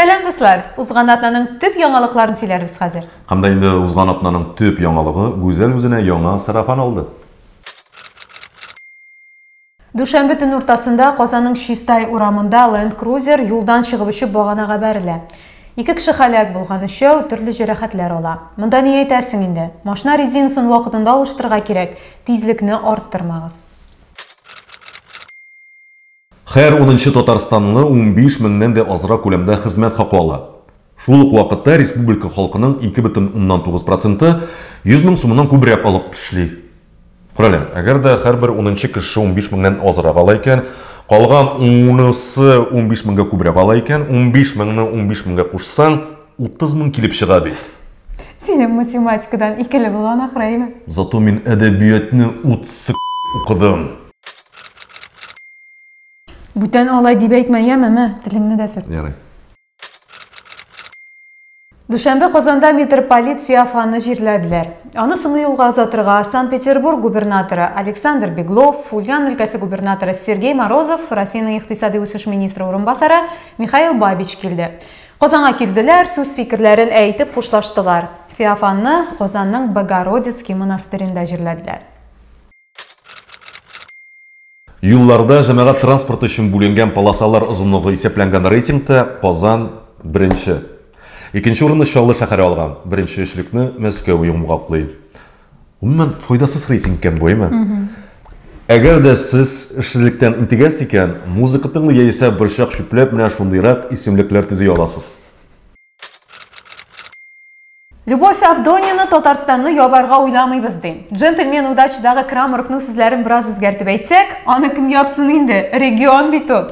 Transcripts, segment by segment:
Сәлам дуслар! Узган атнаның төп яңалыкларын сөйләрбез хәзер. Һәм дә инде узган атнаның төп яңалыгы Гүзәл үзенә яңа сарафан алды. Дүшәмбе төн уртасында Казанның Чистай урамында Land Cruiser юлдан чыгып очып баганага бәрелә. Ике кеше халәк булган, өчәү төрле җәрәхәтләр ала. Монда ни әйтәсең инде? Машина резинасын вакытында алыштырырга кирәк, тизлекне арттырмагыз. Хәер унынчы татарстанлы унбиш меңнән дә азрак күләмдә хезмәт хакы ала. Шул ук вакытта республика халкының ике бөтен уннан тугыз проценты йөз мең сумыннан күбрәк алып эшли. Күрәле, әгәр дә һәрбер унынчы кеше унбиш меңнән азрак ала икән, калган унысы унбиш меңгә күбрәк ала икән, унбиш меңне унбиш меңгә кушсаң, Утыз мең килеп чыга бит. Синең математикадан икеле булган ахрайме? Зато мин әдәбиятны утсы укыдым. Бүтән алай дип әйтмә, яме, мә, телеңне дә сөрт. Ярый. Дүшәмбе Казанда митрополит Феофанны җирләделәр. Аны соңгы юлга озатырга Санкт-Петербург губернаторы Александр Беглов, Ульян өлкәсе губернаторы Сергей Морозов, Россиянең икътисади үсеш министры урынбасары Михаил Бабич килде. Казанга килделәр, сүз-фикерләрен әйтеп хушлаштылар. Феофанны Казанның Богородицкий монастыренда җирләделәр. Юлларда җәмәгать транспорты өчен бүленгән полосалар озынлыгы исәпләнгән рейтингта Казан, беренче. Икенче урынны Чаллы шәһәре алган, беренче өчлекне Мәскәү йомгаклый. Гомумән, файдасыз рейтинг икән бу, әйме? Әгәр дә сез эшсезлектән интегәсез икән, музыка тыңлый яисә борчак чүпләп менә шундыйрак исемлекләр төзи аласыз. Любовь Авдонина Татарстанны ябарга уйламыйбыз ди. Джентльмен удачадагы Крамаровның сүзләрен бераз үзгәртеп әйтсәк, аны кем япсын инде, регион бит ул.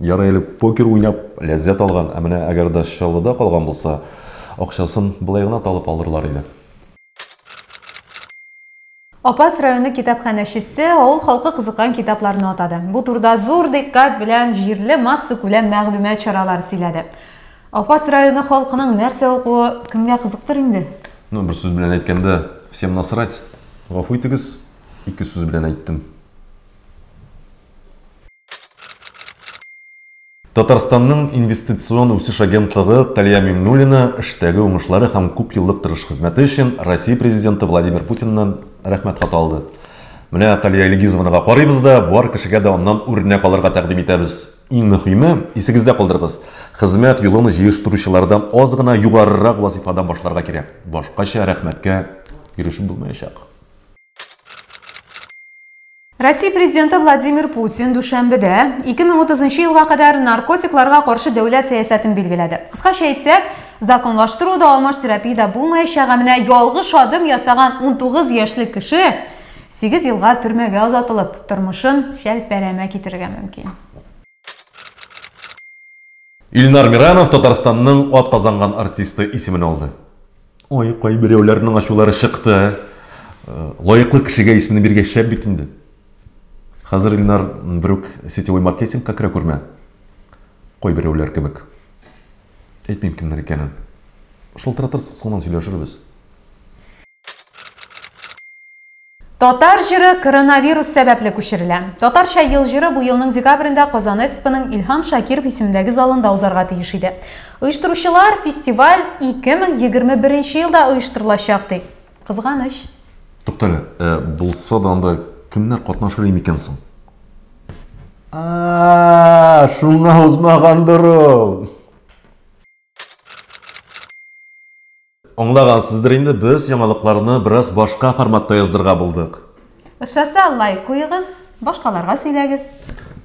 Ярый әле покер уйнап ләззәт алган, ә менә әгәр дә Чаллыда калган булса, акчасын болай гына талып алырлар иде. Апас районы китапханәчесе авыл халкы кызыккан китапларны атады. Бу турыда зур диккать белән җирле массакүләм мәгълүмат чаралары сөйләде. Апас районы халкының нәрсә укуы кемгә кызыктыр инде? Ну, бер сүз белән әйткәндә, всем насрать. Гафу итегез, ике сүз белән әйттем. Татарстанның инвестицион үсеш агентлыгы Талия Миңнуллина эштәге уңышлары һәм күп еллык тырыш хезмәте өчен Россия Президенты Владимир Путиннан Рәхмәт хаты алды. Менә Талия Илгизовнага карыйбыз да, бар кешегә дә аннан үрнәк алырга тәкъдим итәбез. Иң мөһиме, исегездә калдырыгыз, хезмәт юлын җыештыручылардан аз гына югарырак вазифадан башларга кирәк, башкача рәхмәткә ирешеп булмаячак. Россия президенты Владимир Путин дүшәмбедә 2030 елга кадәр наркотикларга каршы дәүләт сәясәтен билгеләде. Кыскача әйтсәк, законлаштыру да, алмаш терапия дә булмаячак, ә менә ялгыш адым ясаган 19 яшьлек кеше 8 елга төрмәгә озатылып, тормышын чәлпәрәмә китерергә мөмкин. Илнар Миранов Татарстанның атказанган артисты исемен алды. Ой, кайберәүләрнең ачулары чыкты. Э, лаеклы кешегә исемне биргәч шәп бит инде. Хәзер Илнар берүк сетевой маркетингка керә күрмә. Кайберәүләр кебек. Әйтмим кемнәр икәнен. Шылтыратырсыз, соңыннан сөйләшербез. Татар җыры коронавирус сәбәпле күчерелә. Татарча ел җыры бу елның декабрендә Казан Экспоның Илһам Шакиров исемендәге залында узарга тиеш иде. Оештыручылар фестиваль 2021 елда оештырылачак ди. Кызганыч. Туктале, ә булса да анда кемнәр катнашыр микән соң? А-а-а, шуңа узмагандыр ул. Аңлагансыздыр инде, без яңалыкларны бераз башка форматта яздырга булдык. Ошаса, лайк куегыз, башкаларга сөйләгез.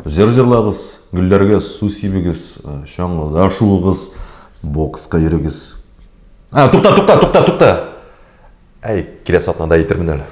Җыр җырлагыз, гөлләргә су сибегез, чаңгыда шуыгыз, бокска йөрегез. А, тукта, тукта, тукта, тукта! Әй, киләсе атнада әйтермен әле.